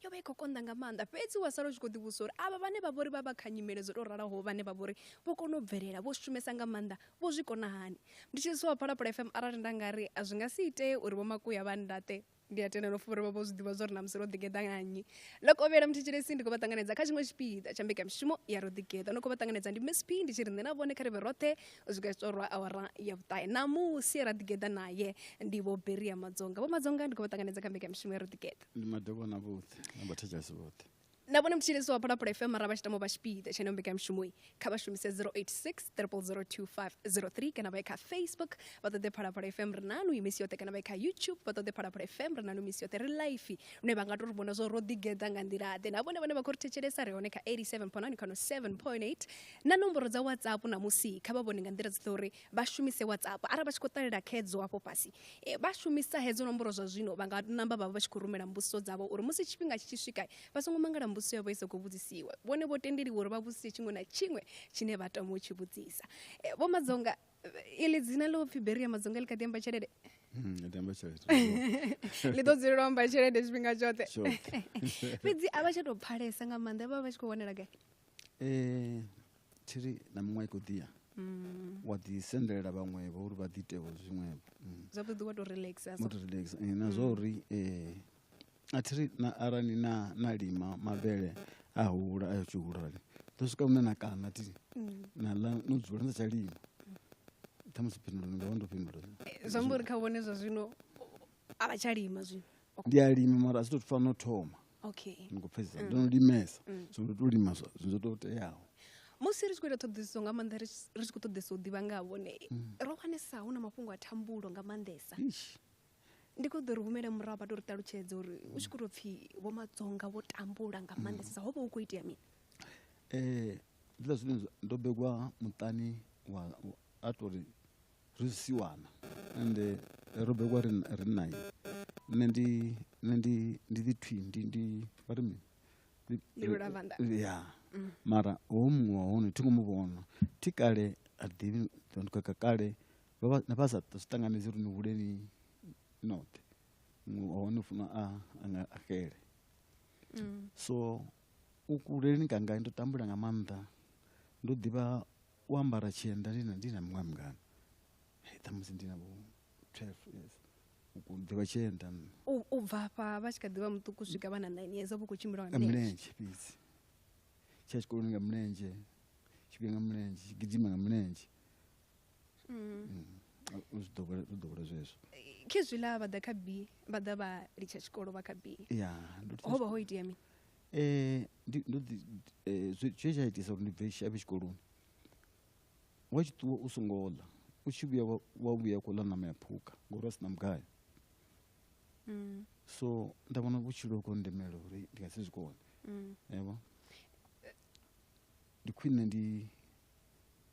yo vha i khou konḓa nga maanḓa fhedzi wa sala u tshi khou ḓivhusa uri avha vhane vha vhori vha vha kha nyimele dzo tou ralaho vhane vha vhori vho kona u bvelela vho shumesa nga maanḓa vho zwi kona hani ndi tshi zwi wa phalaphala fm arali nda nga ri a zwi nga si itee uri vho makuya vha ndaṱe ndi a tenda nofo uri vha vho zwi ḓivha zwa uri na musi ro ḓigeḓa nga nnyi ḽo kovhela muthetshelesi ndi khou vha ṱanganedza kha tshiṅwe tshipiḓa tsha mbekamishumo ya ro ḓigeḓa no khou vha ṱanganedza ndi msp ndi tshi ri nṋe na vhone kha ri vhe roṱhe u swika tshi torwa awara ya vhuṱahe ṋamusi ra ḓigeḓa naye ndi vho beria madzonga vho madzonga ndi khou vha ṱanganedza kha mbekamishumo ya ro ḓigeḓa ndi madokwana vhoṱhe na vhathetshelesi vhoṱhe na vhone mutshilisi wa phalaphala fm mara vha tshi tamo vha tshipiḓa tshene mbekanyamushumoyi kha vha shumise 086 002503 kana vha ye kha facebook vha ṱoḓe phalaphala fm ri nanu imisi yoṱhe kana vha ye kha youtube vha ṱoḓe phalaphala fm ri nanu imisi yoṱhe ri life lune vha nga to ri vhona zwo ro ḓigeḓa nga nḓilaḓe na vhone vhane vha khou ri thetshelesa ri hone kha 87.9 kana 7.8 na nomboro dza whatsapp na musi kha vha vhone nga nḓila dzoṱhe uri vha shumise whatsapp arali vha tshi khou ṱalela khedzo afho fhasi e, vha shumisa hedzo nomboro zwa zwino vha nga namba vhavha vha tshi khou rumela mbudziso dzavho uri musi tshifhinga tshi tshi swika vha songo mangala mbudziso yavho i sa khou vhudzisiwa vhone vho tendeliwa uri vha vhudzise tshiṅwe na tshiṅwe tshine vha tama u tshi vhudzisa e, vho madzonga ili dzina ḽo pfhi beria madzonga ḽi kha ḓi amba tshelede hmm, ḽi ḓo dzulela u amba tshelede tshifhinga tshoṱhe fhedzi a vha tsha tou pfhalesa nga maanḓa vha vha vha tshi khou wanela gai Thiri na miṅwaha i khou ḓi ya mm. wa ḓi sendelela vhaṅwevho uri vha ḓi iteho zwiṅwevho mm. zwavhuḓi ḓi wa to relaxa wa to relaxa eh, na zwa mm. uri eh, a thiri na arali na na lima mavhele a hula a yo tshi hulani ḓo swika hune na kana ti na ḽa no dzula na tsha lima ṱhamusi phindulo ni nga vha ndo phindulo eh, zwi amba uri kha vhone zwa zwino a vha tsha lima zwino ndi a lima mara a zwi to fana no thoma okay ndi khou pfhesesa ndo no limesa so ndo to lima zwa- zwo to teaho musi ri tshi khou ita ṱhoḓisiso nga maanḓa ri tshi- ri tshi khou ṱoḓesa u ḓivha nga ha vhone ro wanesa hu na mafhungo a thambulo nga maanḓesa Eish. ndi khou ḓo ri humele murahu vha to ri ṱalutshedza uri u tshi khou tou pfhi vho madzonga vho tambula nga maanḓesesa ho vha hu khou itea mini eh zwiḽa zwine zwa- ndo begwa muṱani wa wa- a tori ri zwisiwana ende ro bebiwa ri ri naye nṋe ndi nṋe ndi ndi ḓi thwi ndi ndi vha ri mini Ndi- Ndi lulavanda. ya mara ho muṅwe wa hone thi ngo mu vhona thi kale a ri ḓivhi ndi kaka kale vha vha- na vha sa zwi ṱanganedzi uri ni hule ni noṱhe muṅwe wa hone u funa a a nga a xele so u kuleleni kanga ndo tambula nga maanḓa ndo ḓivha u ambara tshienda ndi na ndi na muṅwe mungana ṱhamusi ndi na vho twelve years u ḓivha tshienda u bva afha vha tshi kha ḓivha muṱuku swika vha na nine years vha khou tshimbila nga milenzhe fhedzi tsha tshikoloni nga milenzhe tshifhinga nga milenzhe tshi gidima nga milenzhe mm. mm. u zwi ḓowela zwezwo khezwiḽa vha ḓa kha b vha ḓa vha litsha tshikolo vha kha b ho vha ho itea mini Ndi ḓi zwe tsha itisa uri ndi bve shavhe tshikoloni wa tshi ṱuwa u songo ḽa u tshi vhuya wa vhuya kho ḽa ṋama ya phukha ngori a si na mugayo so nda vhona vhutshilo kho ndemela uri ndi nga si zwi kone yavho ndi khwine ndi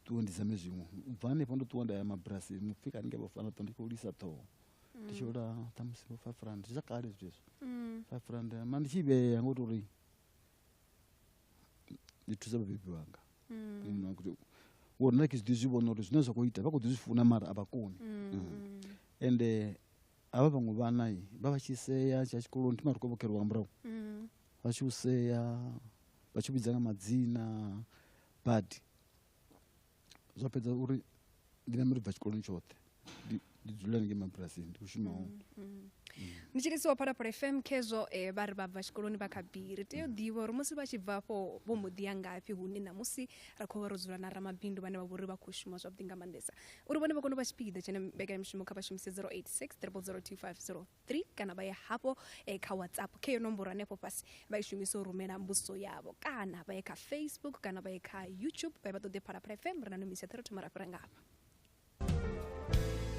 ṱuwe ndi zame zwiṅwe u bva hanefho ndo ṱuwa nda ya mabulasi mupfhi kani nge vhafana ṱo ndi khou lisa ṱhoho ndi tshi ola ṱhamusi vho five rand zwa kale zwithu hezwo mm. five rand ma ndi tshi vhea ngo tori ndi thusa vhabebi wanga mm. wo nna ke zwi ḓi zwi vhona uri zwine zwa khou ita vha khou ḓi zwi funa mara a vha koni mm. ende avha vhaṅwe vhana vha vha tshi sea tsha tshikoloni thima ri khou vhokhelwa nga murahu vha tshi u sea vha tshi vhidza nga madzina badi zwa fhedza uri ndi nambe ri bva tshikoloni tshoṱhe ndi dzula ni ngei mabulasini ndi khou shuma hone mm, mm. ndi tshi lisiwa phalaphala fm khezwo um eh, vha ri vha bva tshikoloni vha kha biri tea u ḓivha uri musi vha tshi bva afho vho mbo ḓi ya ngafhi hune ṋamusi ra khou vha ro dzula na ramabindu vhane vha vhori vha khou shuma zwavhuḓi nga maanḓesa uri vhone vha kone u vha tshipiḓa tshine mbekanyamishumo kha vha shumise 086 3 025 3 kana vha ya hafho eh, kha whatsapp khe yo nomboro hanefho fhasi vha i shumisa u rumela mbudziso yavho kana vha ye kha facebook kana vha ye kha youtube vha ye vha ṱoḓe phalaphala fm ri na nomisi ya thero ra fhira ngafha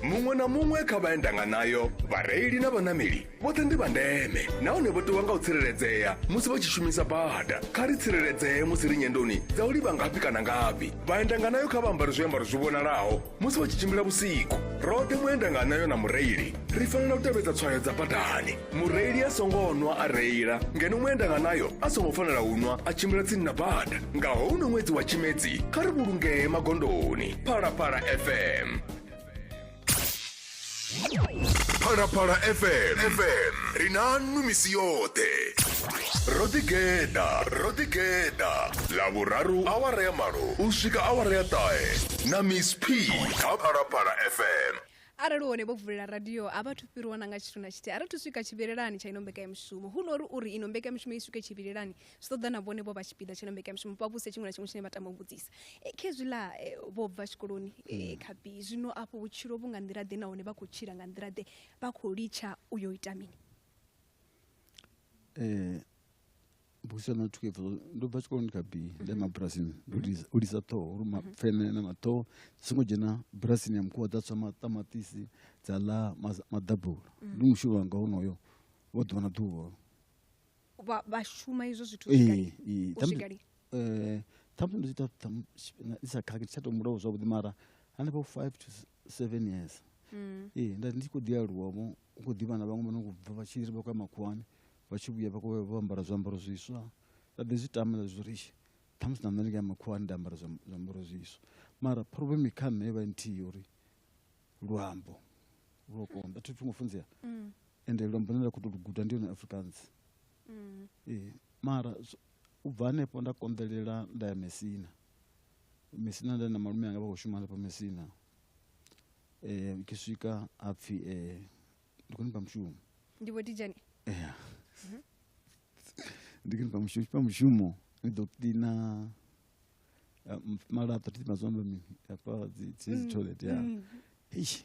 muṅwe na muṅwe kha vha endanga nayo vhareili na vhanameli vhoṱhe ndi vha ndeme nahone vho ṱuwa nga u tsireledzea musi vha tshi shumisa bada kha ri tsireledzee musi ri nyendoni dza u livha ngafhi kana ngafhi vhaendanga nayo kha vha ambare zwiambaro zwi vhonalaho musi vha tshi tshimbila vhusiku roṱhe muenda nga anayo na mureili ri fanela u tevhedza tswayo dza badani mureili a songo nwa a reila ngeno muenda nga nayo a songo fanela u nwa a tshimbila tsini na bada nga houno ṅwedzi wa tshimedzi kha ri vhulungee magondoni phalaphala fm phalaphala fm fm ri na nnu misi yoṱhe ro ḓigeḓa ro ḓigeḓa ḽavhuraru awara ya malo u swika awara ya ṱahe na miss p kha phalaphala fm arali hone vho vulela radio a vha thu fhiriwa na nga tshithu na tshithihi a ri thu swika tshivhilelani tsha ino mbekanyamushumo hu no ri uri ino mbekanyamushumo i swike tshivhilelani zwi ṱoḓa na vhone vho vha tshipiḓa tshino mbekanyamushumo vha vhuse tshiṅwe na tshiṅwe tshine vha tama u vhudzisa e, khezwiḽa e, vho bva tshikoloni e, mm. khapi zwino afho vhutshilo vhu nga nḓila ḓe nahone vha khou tshila nga nḓila ḓe vha khou litsha u yo ita mini um busa na thuke pfo ndo bva tshikoloni kha b nda ma brasini ndo u lisa ṱhoho uri mapfene na maṱhoho dzi songo dzhena brasini ya mukhuwa dza tswa maṱamatisi dza ḽa maḓabula ndi mushumo wanga honoyo wa ḓuvha na ḓuvha vha vha shuma izwo zwithu ee ee ṱhamusi eh ṱhamusi ndi tshi ita ndi sa khakhi tsha to mulaho zwavhuḓi mara hanefho five to seven years mm. ee nda ndi khou ḓi aluwa vho u khou ḓivha na vhaṅwe vha no khou bva vha tshi ri vha khou ya makhuwani vha tshi vhuya vha khou vha ambara zwiambaro zwiswa nda ḓi zwi tama nda zwi ri ṱhamusi na nṋe ndi nga makhuwani nda ambara zwiambaro zwiswa mara problem kha nṋe vha nthihi uri luambo lwo konḓa thi thungo funzea mm. ende luambo lune nda khou tou lu guda ndi yone afrikaans mm. ee mara u bva hanefho nda konḓelela nda ya mesina mesina nda na malume anga vha khou shuma hanefho mesina um ke swika a pfhi um ndi khou nifha mushumo ndi vho dijane ea mhm. ndi khou nifha mushumo fha mushumo ni ḓo kiḽina eh, malaṱa thi mazwamba mini hafha dzi toilet ya mm. eish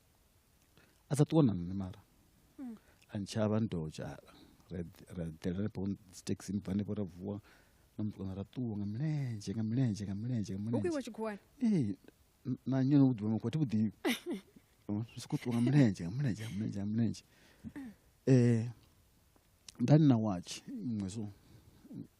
a sa ṱuwa na nṋe mara hmm. a ntshavha ni tou tsha ra ḓela henefho dzi taxi bva henefho ra vuwa na mutukana ra ṱuwa nga milenzhe nga milenzhe nga milenzhe nga milenzhe ee na nyo no vhuḓivha makho thi vhuḓivhi ri soko ṱuwa nga milenzhe nga milenzhe nga milenzhe nga milenzhe um nda ni na watch iṅwe so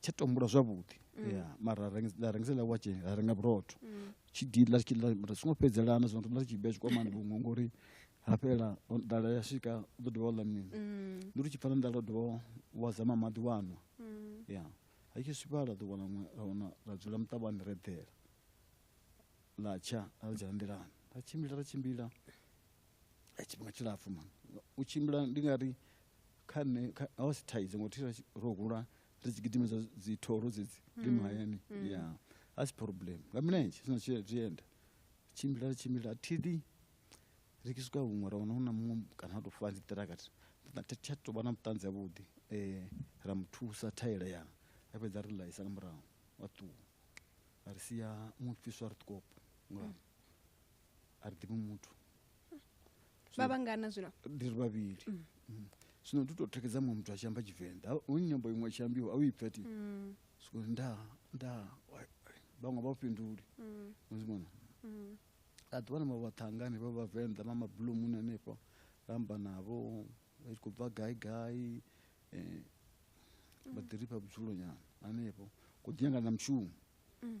tsha tombula zwavhuḓi mm. ya mara la rengisa la watch la renga vhurotho mm. tshi dila tshi la mara songo fhedzelana zwo ndo tshi bya tshikwamani vhuṅwe ngori hafhela dala ya swika ḓo dovha ḽa mini mm. ndi ri tshi pfana dala dovha wa zama maḓi wano ya ha tshi swika la ḓo wana ra wana ra dzula muṱavhani re dela la tsha a dzhena nḓilani ra tshimbila ra tshimbila ya tshifhinga tshilapfu man u tshimbila ndi nga ri kha nṋe kha- a wasi thaidzo ngo thira ro hula ri tshi gidimedza dzithoro dzedzi ri mahayani ya a si problem nga milenzhe sina zwienda tshimbila ri tshimbila thili ri tshi swika huṅwe ra wana hu na muṅwe kana ha tou fula dziṱiraka tsha tou vha na vhuṱanzi havhuḓi um ra mu thusa thaela ya a fhedza a ri laisa nga murahu wa ṱuwa a ri sia muṅwe fhiswa ri ṱukopo nga a ri ḓivhi muthu vha vhangana zwino ndi ri vhavhili mm. Mm. zwino ndi tou thekedza muṅwe muthu a tshi amba tshivenḓa u nyambo iṅwe tshi ambiwa a u ipfa ti mm. soko nda nda vhaṅwe vha fhinduli muzimona a ḓuvha na mavhaṱhangani vha vhavenḓa vha mabulumuni hanefho ramba navho vha tshi khou bva gai gai um vha ḓi ri fha vhudzulo nyana hanefho ku ḓi nyangana na mushumo mm.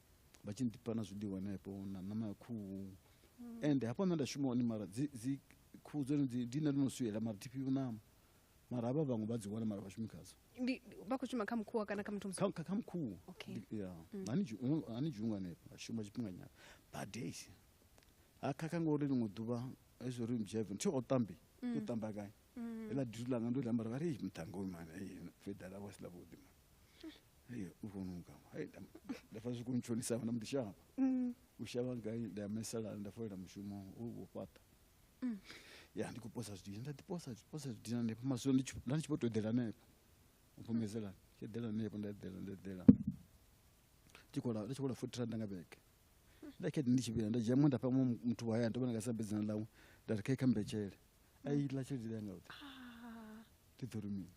vha tshi nḓifha na zwiḽiwa henefho na ṋama ya khuhu mm. ende hafho nṋe nda shuma hone mara dzi khuhu dzone ndi nṋe ndo no swiela mara thi fhiwi ṋama mara havha vhaṅwe vha dzi wana mara vhashumi khadzo vha khou shuma kha mukhuwa kana kha muthu kha mukhuwa mm. hani dzhunga hanefho a shuma tshifhinga nyana badei ha khakha ngori ḽiṅwe ḓuvha ezwo ri mjeven thi o ṱambi mm. yo ṱamba gai mm. ela dutu langa ndo lambara vha ri mutango uyu mani ei feda lavo si lavhuḓi mani ei u vonuka ei nda fa zwi khou ntshonisa vana mudishava mm. u shavha ngai nda ya mesala nda folela mushumo u vho fhaṱa mm. ya ndi khou posa zwidina nda ḓiposa posa zwidina hanefha masulo nda ndi tshi vho to eḓela hanefha u pfumedzela tshi eḓela hanefha nda eḓela nda eḓela tshi khou la tshi khou la futhi randa nga vhege nda khe ndi tshi vhila nda dzhia mwe nda fha muthu wa haya ndo vhona nga sa bedzana ḽawe nda ri khe kha mbetshele a iḽa tshelede yanga yoṱhe ah. ndi ḓo rumini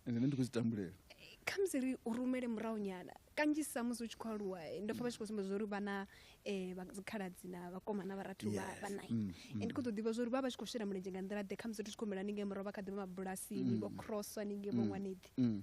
ende nṋe ndi khou zwi tambulela khamusi ri u rumele murahu nyana kanzhisa musi u tshi khou aluwa eh, ndo pfa vha tshi khou sumbedza uri vha na eh, dzikhaladzi na vhakoma na vharathu vha nai mm, mm. ndi khou ḓo ḓivha zwa uri vha vha tshi khou shela mulenzhe nga nḓila ḓe khamusi ri tshi khou humela ningei murahu vha kha ḓivha mabulasini mm. vho crosswa ningei vho ṅwaneḓi um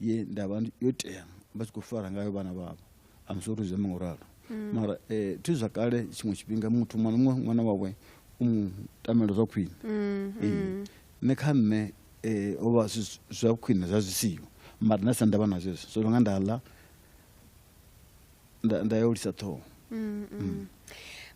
ye ndavha yo tea vha tshi khou fara ngayo vhana vhavho I'm sorry zwi amba ngoralo mm. mara eh thi zwa kale tshiṅwe tshifhinga muthu mwana muṅwe ṅwana wawe u mu tamela zwa khwine mm, eh, mm. nṋe kha nṋe eh o vha zwa khwine zwa zwi siho mara nda sa ndavha na zwezwo so nga nda ḽa nda, nda ya u lisa ṱhoho mm, mm.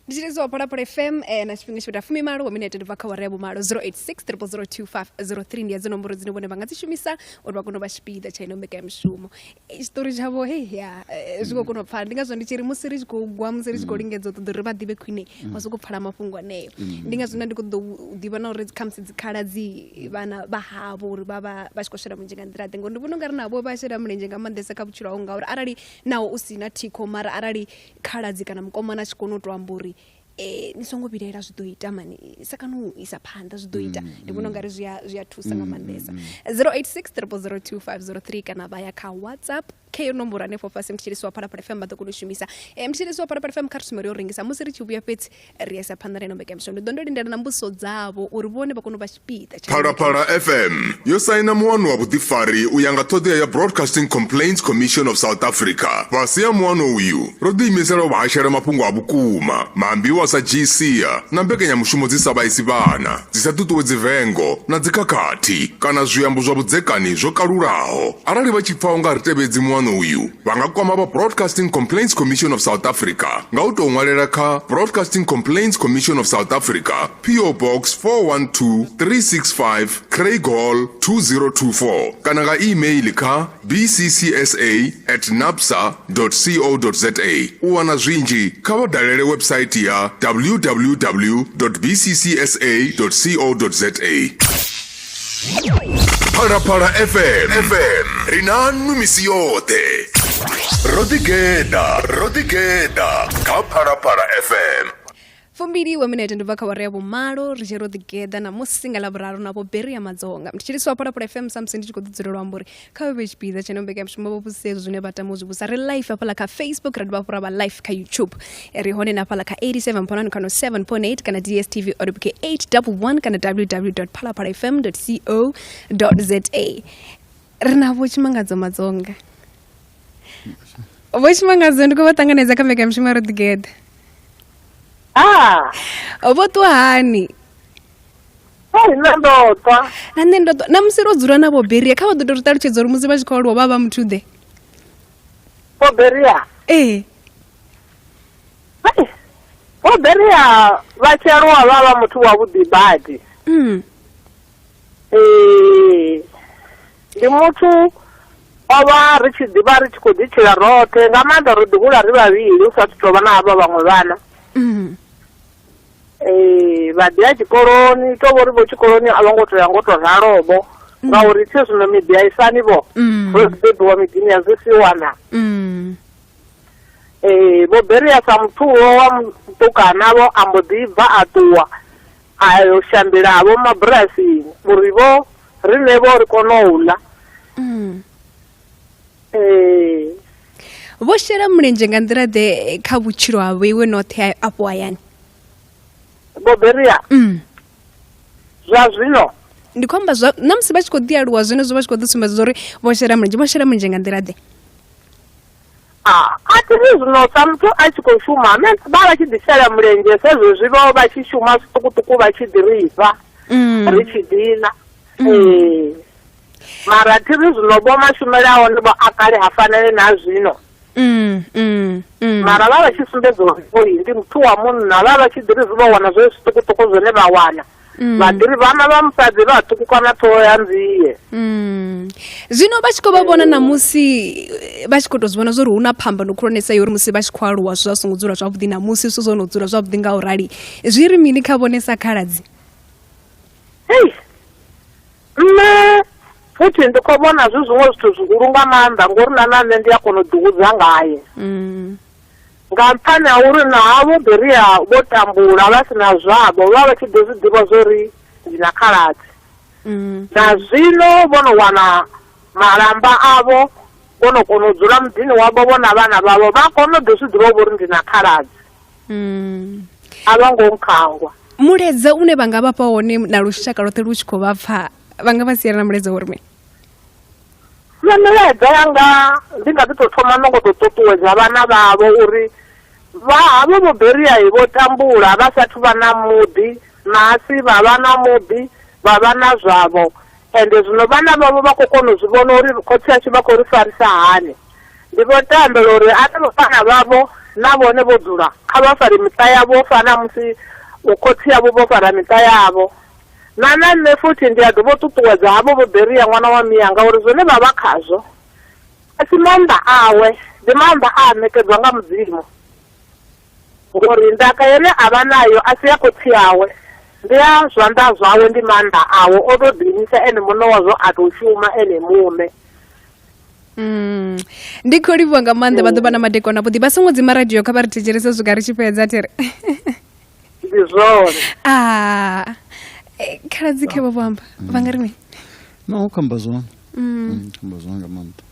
ndi tshi lidziwa phalaphala fm eh, na tshifhinga tshivheta fumi malo wa minete ndi bva kha wara ya vhumalo 0863 ndi ya dzi nomboro dzine vhone vha nga dzi shumisa uri vha kone u vha tshipiḓa tsha ino mbekanyamushumo eh, tshiṱori tshavho he ya eh, zwi khou kona u pfala ndi ngazwo ndi tshi ri musi ri tshi khou gwa musi ri tshi khou mm. lingedza u ṱoḓa uri vha ḓivhe khwine mm. vha soko pfala mafhungo aneyo mm. ndi ngazwo nda ndi khou ḓo ḓivha na uri khamusi dzikhala dzi vhana vha havho uri vha vha vha tshi khou shela mulenzhe nga nḓila ḓe ngori ndi vhona u nga ri navho vha shela mulenzhe nga maanḓesa kha vhutshilo hau ngauri arali naho u si na thikho mara arali khaladzi kana mukomana a tshi kona u tou amba uri eh ni songo vhilaela zwi ḓo ita mani isa kana u isa phanḓa zwi ḓo ita mm, ndi vhona mm. ungari zwi a zwi a thusa nga mm, maanḓesa 0863002503 kana vha ya kha whatsapp kha iyo nomboro hanefho fhasi mthetshelesi wa phalaphala fm vha ḓo kona u shumisa eh, mthetshelesi wa phalaphala fm kha ri sumbele yo rengisa musi ri tshi vhuya fhedzi ri isa phanḓa reno mbekanyamushumo ndi ḓo ndo lindela na mbudziso dzavho uri vhone vha kone u vha tshipiḓa phalaphala fm yo saina muwano wa vhuḓifari u ya nga ṱhoḓea ya broadcasting complaints commission of south africa fhasi ha muwano uyu ro ḓiimisela u vhahashela mafhungo a vhukuma maambiwa sa gsia na mbekanyamushumo dzi sa vhaisi vhana dzi sa ṱuṱuwedzi vengo na dzikhakhathi kana zwiambo zwa vhudzekani zwo kalulaho arali vha tshi pfa u nga ri tevhedzi muwano uyu vha nga kwama vha broadcasting complaints commission of south africa nga u tou ṅwalela kha broadcasting complaints commission of south africa po box 412365 craig hall 2024 kana nga email kha bccsa at napsa co za u wana zwinzhi kha vha dalele website ya www bccsa co za phalaphala fm fm ri na nwi misi yoṱhe ro ḓigeḓa ro ḓigeḓa kha phalaphala fm fumbili wa minete ndi bva kha wari ya vhumalo ri tshi ro ḓigeḓa namusi nga ḽavhuraru na vho beri ya madzonga ndi tshiliswa phalaphala fm samusi ndi tshi khou ḓi dzulela u amba uri kha vhe tshipiḓa tsha no mbekanyamushumo vho vhudzisa hezwo zwine vha tama u zwi vhusa ri life hafhaḽa kha facebook ra dovha hafhu ra vha life kha youtube ri hone na hafhaḽa kha 87 phonani khano 7 pon 8 kana dstv oribk 811 kana www phalaphala fm co za ri na vho tshimangadzo madzonga vho tshimangadzo ndi khou vha ṱanganedza kha mbekanyamushumo ro ḓigeḓa ah. vho ṱuwa hani hei nṋe ndo twa na nṋe ndo twa na musi ro dzula na vhoberia kha vha ḓo to ri ṱalutshedza uri musi vha tshi khou aluwa vha vha muthu ḓe boberia ee boberia vha tshi aluwa vha vha muthu wa vhuḓi badi mm. ee ndi muthu o vha ri tshi ḓivha ri tshi khou ḓitshila roṱhe nga maanḓa ro ḓihula ri vhavhili u sa thu tou vha na havha vhaṅwe vhana mm. ee vha ḓi ya tshikoloni to vhori vho tshikoloni a vho ngo to ya ngo to ralobo ngauri thi zwino miḓi a isani vho Mm. ro bebiwa miḓini ya zwi si wana Mm. ee vho beria sa muthuwo wa mutukana vho a mbo ḓi bva a ṱuwa a yo shambela vho mabulasini uri vho riṋe vho ri kone u ḽa Mm. ee vho shela mulenzhe nga nḓila ḓe kha vhutshilo ha vhoiwe noṱhe a- afho hayani boberia mm. zwa zwino ndi khou amba zwa na musi vha tshi khou ḓi aluwa zwenezwo vha tshi khou ḓi sumbedza uri vho shela mulenzhe vho shela mulenzhe nga nḓila ḓe Ah, a thi zwi zwino sa muthu a tshi khou shuma ane vha vha tshi ḓisela mulenzhe sa zwezwi vho vha tshi shuma zwiṱukuṱuku vha tshi ḓi ri fha Mm. ri tshi dina ee mara thi ri zwino vho mashumele a hone vho a kale ha fanele na zwino mm, mm, mm. mara vha vha tshi sumbedza uri oyi ndi muthu wa munna vha vha tshi ḓiri zwi vha wana zwe zwiṱukuṱuku zwine vha wana mm. vha ḓiri vhana vha musadzi vha ṱukukana ṱhoho ya nzie mm. zwino vha tshi khou vha vhona namusi eh, vha tshi khou tou zwi vhona zwa uri hu na phambano khulwanesa yo uri musi vha tshi khou aluwa zwi zwa songo dzula zwavhuḓi namusi zwithu zwo no dzula zwavhuḓi nga u rali zwi ri mini kha vhone sa khaladzi hei Nṋe futhi ndi khou vhona zwi zwiṅwe zwithu zwihulu nga maanḓa ngori na na nṋe ndi a kona u ḓihudza ngaye mm. nga nṱhani ha uri na havho beria vho tambula vha si na zwavho vha vha tshi ḓo zwi ḓivha zwo ri ndi na khaladzi mm. na zwino vho no wana malamba avho vho no kona u dzula muḓini wavho vho na vhana vhavho vha kona u ḓo zwi ḓivha vho ri ndi na khaladzi mm. a vha ngo nkhangwa muledza une vha nga vhafha wone na lushaka lwoṱhe lu tshi khou vha pfa vha nga vha siela na muledza uri mini nṋe milaedza yanga ndi nga ḓi tou thoma no ngo tou ṱuṱuwedza vhana vhavho uri vha havho vho beriai vho tambula vha sathu vha na muḓi nasi vha vha na muḓi vha vha na zwavho ende zwino vhana vhavho vha khou kona u zwi vhona uri khotsi ashu vha khou ri farisa hani Ndi vho tambela uri arali vhana vhavho na vhone vho dzula, kha vha fare miṱa yavho u fana na musi vhokhotsi avho vho fara miṱa yavho. Na na nṋe futhi ndi a ḓi vho ṱuṱuwedza havho vho Beria ṅwana wa Mianga uri zwine vha vha khazwo a si maanḓa awe, ndi maanḓa a a ṋekedzwa nga Mudzimu. Ngori ndaka ine a vha nayo a si ya khotsi awe, ndi ya zwanḓa zwawe, ndi maanḓa awe, o tou ḓiimisa ene muṋe wazwo a tou shuma ene muṋe. Mm. ndi khou livhuwa nga maanḓa vha ḓo vha na madekwana vhuḓi vha songo dzima radio kha vha ri thetshelese swika ri tshi fhedza thiri ndi zwone a ah. eh, khaladzi khe vha vho amba vha nga ri mini no u khamba zwone mm. mm, khamba zwone nga maanḓa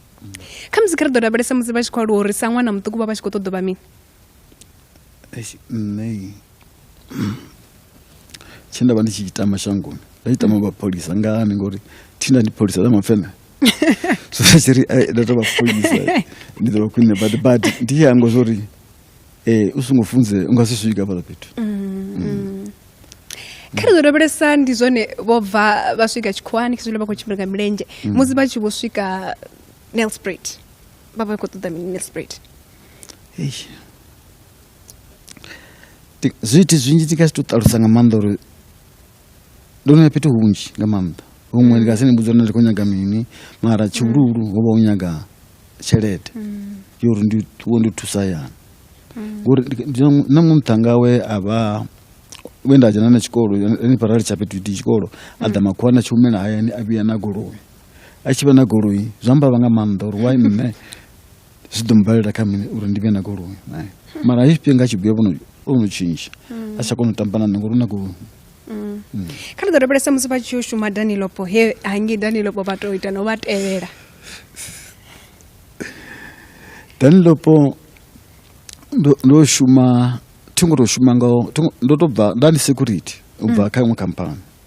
kha musi kha ri ḓo lavhelesa musi vha tshi khou aluwa uri sa ṅwana muṱuku vha vha tshi khou ṱoḓo vha mini Eish, nṋe i- tshe nda vha ndi tshi ita mashangoni nda tshi tama mapholisa ngani ngori thina ndi pholisa ḽa mapfene so nda tshi ri "Ai, nda tou vha pholisa ndi ḓo vha khwine badi badi ndi tshi hangwa zwo ri um u songo funze u nga si swika fhaḽa fhethu kha ri ḓo lavhelesa ndi zwone vho bva vha swika tshikhuwani khezwiḽa vha khou tshimbila nga milenzhe musi vha tshi vho swika nelsprit vha vha khou ṱoḓa mini nelsprit zwithu zwinzhi ndi nga si to ṱalusa nga maanḓa uri ndo no ya fhethu hunzhi nga maanḓa huṅwe ndi nga si ni mbudza uri ndi khou nyaga mini mara tshihuluhulu ho vha u nyaga tshelede mm. yo uri ndi wo ndi thusa yana mm. ngori na muṅwe muṱhanga we a vha we nda dzhena na tshikolo ni parali tsha fhethu ndi tshikolo a ḓa mm. makhuwa na tshihumela hayani a vhuya na goloi a tshi vha na goloi zwa mbavha nga maanḓa uri why nṋe zwi ḓo mbalela kha mini uri ndi vhe na goloi naye mara he tshifhinga tshi vhuya vhono o no tshintsha a tsha kona u tamba na nṋe ngori u na goloi kha ri ḓo lavhelesa musi vha tshi yo shuma danilopo he hangei danilopo vha to ita no vha tevhela danilopo ndo ndo shuma thi ngo to shuma nga thi ngo- ndo to bva nda ndi security u bva kha iṅwe khamphani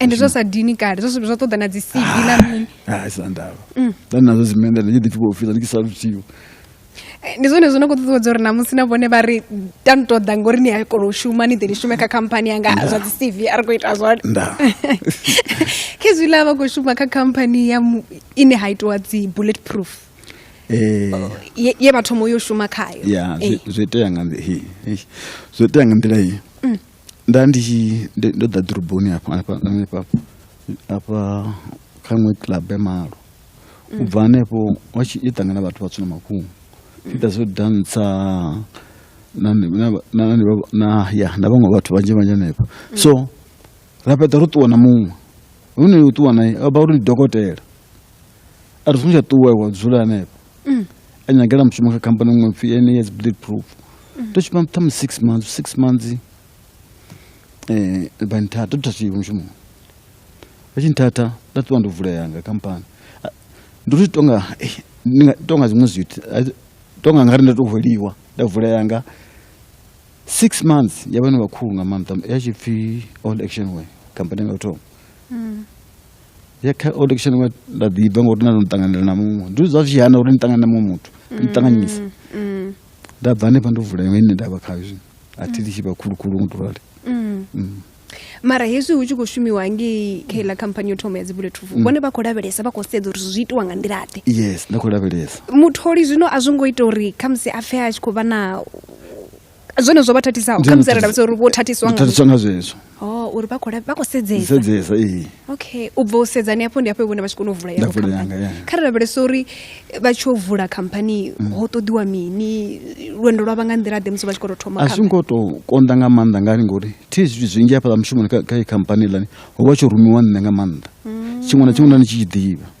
ende zwa sa dini kale zwa ṱoḓa na dzi cv na ah, mini ah, sa ndavha mm. ndani nazwo zimendela ndi ḓipfi vhofila ndi kisa luthiho eh, ndi zwone zwino khou ṱuṱuwedza uri namusi na vhone vha ri ta ni ṱoḓa ngori ni a kona u shuma ni ḓe ni shume kha khamphani yanga zwa dzi cv a ri khou ita zwone khezwi la vha khou shuma kha khamphani ya ine ha itiwa dzi bullet proof eh. oh, ye vha thoma yo shuma khayo ya eh. zwi itea nga zwi itea nga nḓila iyi mm. nda ndi tshi ndo ḓa ḓoroboni hafha hafha hanefha hafha kha iṅwe club ya malo u bva hanefho wa tshi i ṱangana vhathu vhatswu na mafhungo ita zwo dantsa na na na ya na vhaṅwe vhathu vhanzhi vhanzhi hanefho so ra fhedza ro ṱuwa na muṅwe hune u ṱuwa naye a vha uri ndi dokotela a ri songo tsha ṱuwa wa dzula hanefho mm. a nyagela mushumo kha khamphani ṅwe pfi ene yes bleed proof mm. to shuma ṱhamu six months six months um vha nthatha to thathiwe mushumo vha tshi nthatha nda ṱuwa ndo vulea nga khamphani ndo ri tonga eh, tonga zwiṅwe zwithu tonga nga ri nda to hweliwa nda vulea nga six months ya vhana vhakhulu nga maanḓa ya tshi pfi all action way khamphani nga u thoma mm. ya kha old action wa nda ḓi bva ngori na ndo ṱanganela na muṅwe ndi zwa zwi hana uri ni ṱangana na muṅwe muthu ni ṱanganyisa mm, mm. nda bva hanefha ndo vula ine nda vha khayo zwino a thi litshe vha khulukhulu ngo to rali mm. mara hezwi hu tshi khou shumiwa ngei kha iḽa khamphani yo thoma ya dzibulletrufu vhone vha khou lavhelesa vha khou sedza uri zwi itiwa nga nḓila ḓe yes nda khou lavhelesa mutholi zwino a zwo ngo ita uri khamusi a pfhe a tshi khou vha na zwone zwo vha thathisaho kha musi ravha uri vho thathiswa nga thathiswa nga zwezwo oh uri vha khou vha khou sedzesa sedzesa ee okay u bva u sedza ni hafho ndi hafho vhone vha tshi kona u vula ya khamphani kha ri lavhelesa uri vha tshi u vula khamphani mm. ho ṱoḓiwa mini lwendo lwa vha nga nḓila ḓe musi vha tshi khou tou thoma khamphani a zwi ngo tou konḓa nga maanḓa ngani ngori thi zwithu zwinzhi hafhaḽa mushumoni kha khamphani lani ho vha tsho rumiwa nṋe nga maanḓa mm. tshiṅwe na tshiṅwe na ni tshi tshi ḓivha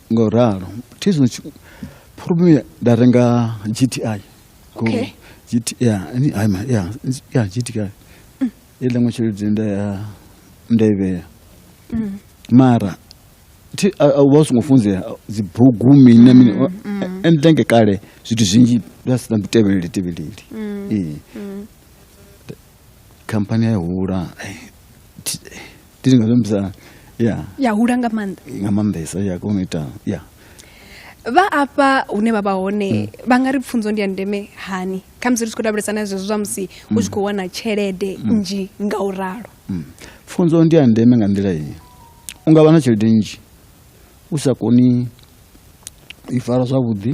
Ngo ralo. Thi zwino tshi- problem ya- nda renga GTI. Go- Okay. GT yeah, ni hayi ma yeah, nzi- yeah GTI. Ile ngo tshelede nda ya nda i vhea. Mara thi a- a- wa songo funzea dzi bugu mini na mini wa- and thank kale zwithu zwinzhi nda si na tevhelele tevhelele. Eh. khamphani ya hula ndi nga zwiambisa ya ya hula nga maanḓa nga maanḓesa ya kona u ita ya vha afha hune vha vha hone hmm. vha nga ri pfunzo ndi ya ndeme hani kha musi ri tshi khou lavhelesa na zwezwo zwa musi u hmm. tshi khou wana tshelede hmm. nnzhi nga u ralo pfunzo ndi ya ndeme nga nḓila iyi u nga vha na tshelede nnzhi u sa koni i fara zwavhuḓi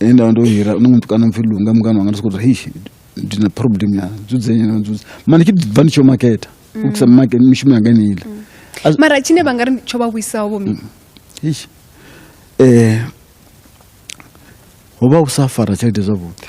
he nda vha ndo hira no mutukana mpfhi lunga mungana wanga ndi soko ri hei ndi na problem ya dzudzenya na dzudza mara ndi tshi bva ndi tsho maketa u kisa make mishumo yanga ni ile As- mara tshine vha nga ri tsho vha vhuisaho vho mi Eish. eh ho vha u sa fara tshelede zwavhuḓi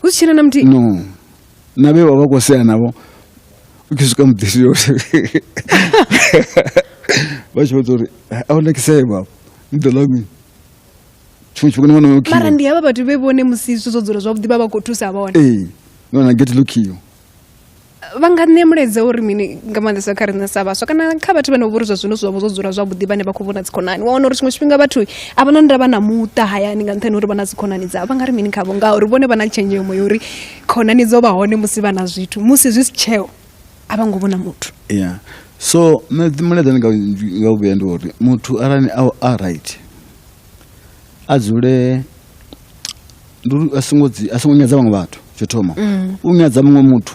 hu si tshena na muthihi no na vhe vha vha khou sea navho u tshi swika muḓisi yo vha tshi vhudza uri a hu nakisee baba ni ḓo ḽa mini tshiṅwe tshifhinga ni wana yo mara ndi havha vhathu vhe vhone musi zwithu zwo dzula zwavhuḓi vha vha khou thusa vhone ee ni wana gate lokiyo vha nga ṋea mulaedza uri mini nga maanḓesa kha riṋe sa vhaswa kana kha vhathu vhane vhori zwa zwino zwavho zwo dzula zwavhuḓi vhane vha khou vhona dzikhonani wa wana uri tshiṅwe tshifhinga vhathu a vha na ndavha na muṱa hayani nga nṱhani uri vha na dzikhonani dzavho vha nga ri mini khavho ngauri vhone vha na tshenzhemo ya uri khonani dzo vha hone musi vha na zwithu musi zwi si tsheo a vha ngo vhona muthu yeah. so mulaedza nga u vhuya ndi uri muthu arali a right a dzule ndi uri a songo dzi- a songo nyadza vhaṅwe vhathu tsho thoma u nyadza muṅwe muthu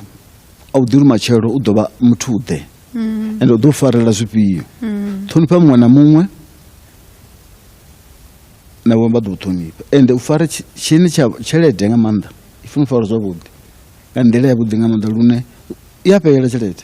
a u ḓiri matshelo u ḓo vha muthu ḓe ende u ḓo u farela zwifhio ṱhonifha muṅwe na muṅwe na vhaṅwe vha ḓo u ṱhonifha ende u fara tshi- tshini tsha tshelede nga maanḓa i funa u fara zwavhuḓi nga nḓila yavhuḓi nga maanḓa lune i a fhelela tshelede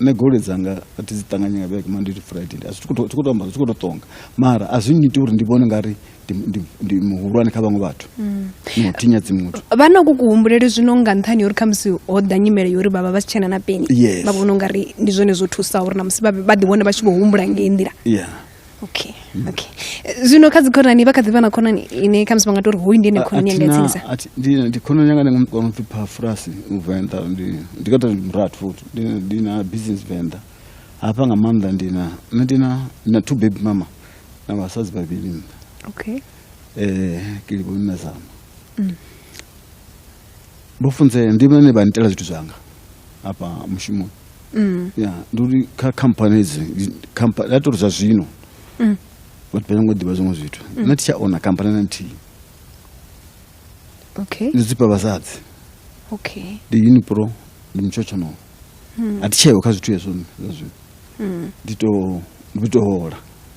nṋe goloi dzanga a thi dzi ṱanganye nga vhege monday to friday a zwi khou tou amba zwi khou tou ṱonga mara a zwi nnyiti uri ndi vhone nga ri ndi muhulwane kha vhaṅwe vhathu mm. no thinyadzi muthu vha na ku kuhumbuleli zwino nga nṱhani uri khamusi ho ḓa nyimele yori vhavha vha si tshena na peni vha vhona u nga ri ndi zwone zwo thusaho uri na musi vha ḓi wane vha tshi vho humbula ngei nḓila okay okay Eh, zwino kha dzikhonani vha kha ḓi vha na khonani ine khamusi vha nga tou ri hoyu ndi ene khonani yanga ya tsinisa ndi khonani yanga ndi nga mukona upfi phafurasi u venḓa ndi ndi kata ndi murathu futhi ndi ndi na business venḓa hafha nga maanḓa ndi na nṋe ndi na ndi na two baby mama na vhasadzi vhavhili nṋa okay um kilivhoni na zama vho funzea ndi vhone vha nitela zwithu zwanga hafha mushumoni mm. ya ndi uri kha khamphani edzi ya tori zwa zwino mm. vhathu vha nyongo ḓivha zwiṅwe zwithu mm. na titsha ona khamphani na nthihi okay ndi dzipa vhasadzi okay ndi unipro ndi mutshotshonono a thi tsheo kha zwithu hezwo zwa zwino ndi to ndi to hola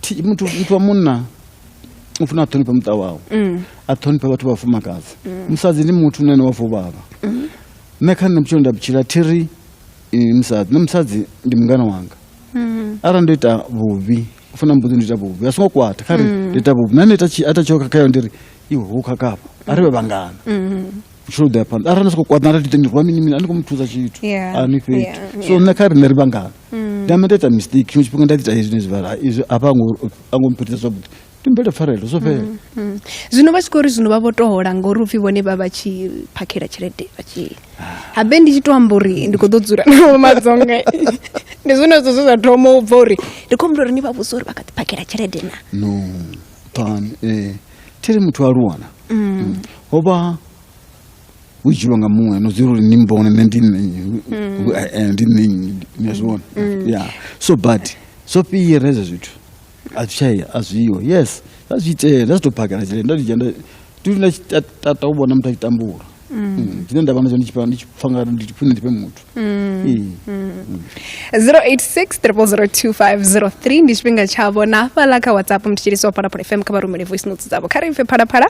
thi- muthu muthu wa munna u funa a ṱhonifhe muṱa wawe a ṱhonifhe vhathu vha fumakadzi musadzi ndi muthu nene wa fuvhavha nṋe kha nṋe vhutshilo nda vhutshila thi ri eh, musadzi nṋe musadzi ndi mungana wanga arali ndo ita vhuvhi u funa mbuḓi ndo ita vhuvhi a songo kwata kha ri ndo ita vhuvhi nane ita tshi- a ita tsheo khakhayo ndi ri iwe hu khakhafha a ri vhe vhangana tsho ḓea phanḓa arali ni soko kwaḓa nda ḓi rwa mini mini a ni kho mu thusa tshithu a ni fhethu so nṋe kha riṋe ri vhangana mm. ndi amba nda ita mistake tshiṅwe tshifhinga nda ḓi ita hezwi nezwi vhala izwi hafha a ngo mphetisa zwavhuḓi ndi mbele pfarelo zwo fhela mm, mm. zwino vha tshi khou ri zwino vha vho tohola ngori upfhi vhone vha vha tshi phakhela tshelede vha tshi habe ndi tshi to amba uri ndi khou ḓo dzula nao madzonga ndi zwone zwo zwe zwa thoma u bva uri ndi khou humbula uri ni vha vhusa uri vha kha ḓi phakhela tshelede na no pan ee eh. thi ri muthu a luwana mm. ho vha hu tshilwa nga muṅwe no zwi uri ni mbone nṋe ndi nṋe mm. eh, eh, ndi nṋe ni a zwi vhona mm. ya so but zwo fhira hezwo zwithu a zwi tshaye a zwiho yes zwa zwi itea nda zwi tou phakela tshelede nda ndi dzhia nda ndi tata u vhona muthu a tshi tambula Mm, tshine ndavha nazwo ndi tshipfa ndi tshipfa nga ndi tshipfa ndi tshipfe muthu Ee. 0860002503 ndi tshifhinga tshavho na hafhaḽa kha whatsapp mthetshelisi wa phalaphala fm kha vha rumele voice notes dzavho kha ri pfe phalaphala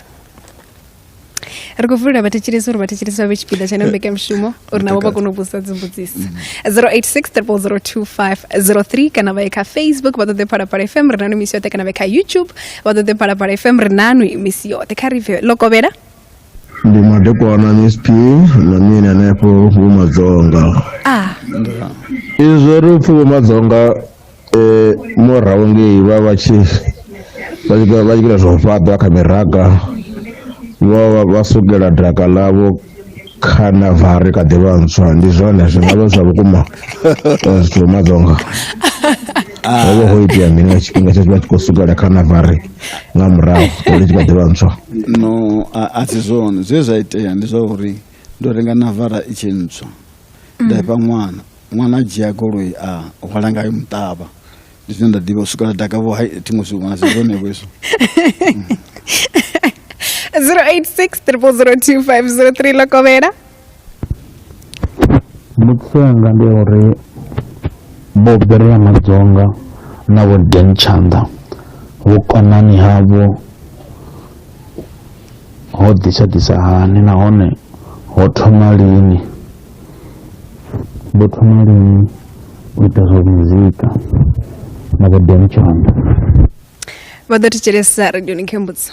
ri khou vulela vhathetshelesi uri vhathetshelesi vha vhe tshipiḓa tsha ino mbekanyamushumo uri navho vha kone u vhudzisa dzimbudziso 0860002503 kana vha ye kha facebook vha ṱoḓe phalaphala fm ri nanu misi yoṱhe kana vha ye kha youtube vha ṱoḓe phalaphala fm ri nanu misi yoṱhe kha ri pfe lokovhela Ndi madekwana MSP na mini hanefho vhumadzonga. Ah. Izwo ri upfhi vhumadzonga eh murahu ngei vha vha tshi vha tshi vha tshi ita zwa u fhaṱa kha miraga vho vha vha sukela daka ḽavho kha na vari kha ḓivha ntswa ndi zwone zwi ngavha zwa vhukuma eh, zwithu vhumadzonga. ho vha ho itea mini nga tshifhinga tshe vha tshi khou swikelela kha navare nga murahu uri tshi kha ḓivha ntswa no a si zwone zwe zwa itea ndi zwa uri ndo renga navara i tshi ntswa nda ifha ṅwana ṅwana a dzhia goloi a hwala ngayo muṱavha ndi zwine nda ḓivha u swikela dakavho hai thi ngo zwi wana si zwonevho izwo 086 triple 025 03 lokovhela Mbudziso yanga ndi ya uri vho Berea Madzonga na vho Dan Tshanḓa vhukonani havho ho ḓisa ḓisa hani nahone ho thoma lini vho thoma lini u ita zwa muzika na vho Dan Tshanḓa vha ḓo thetshelesa radioni khembudzo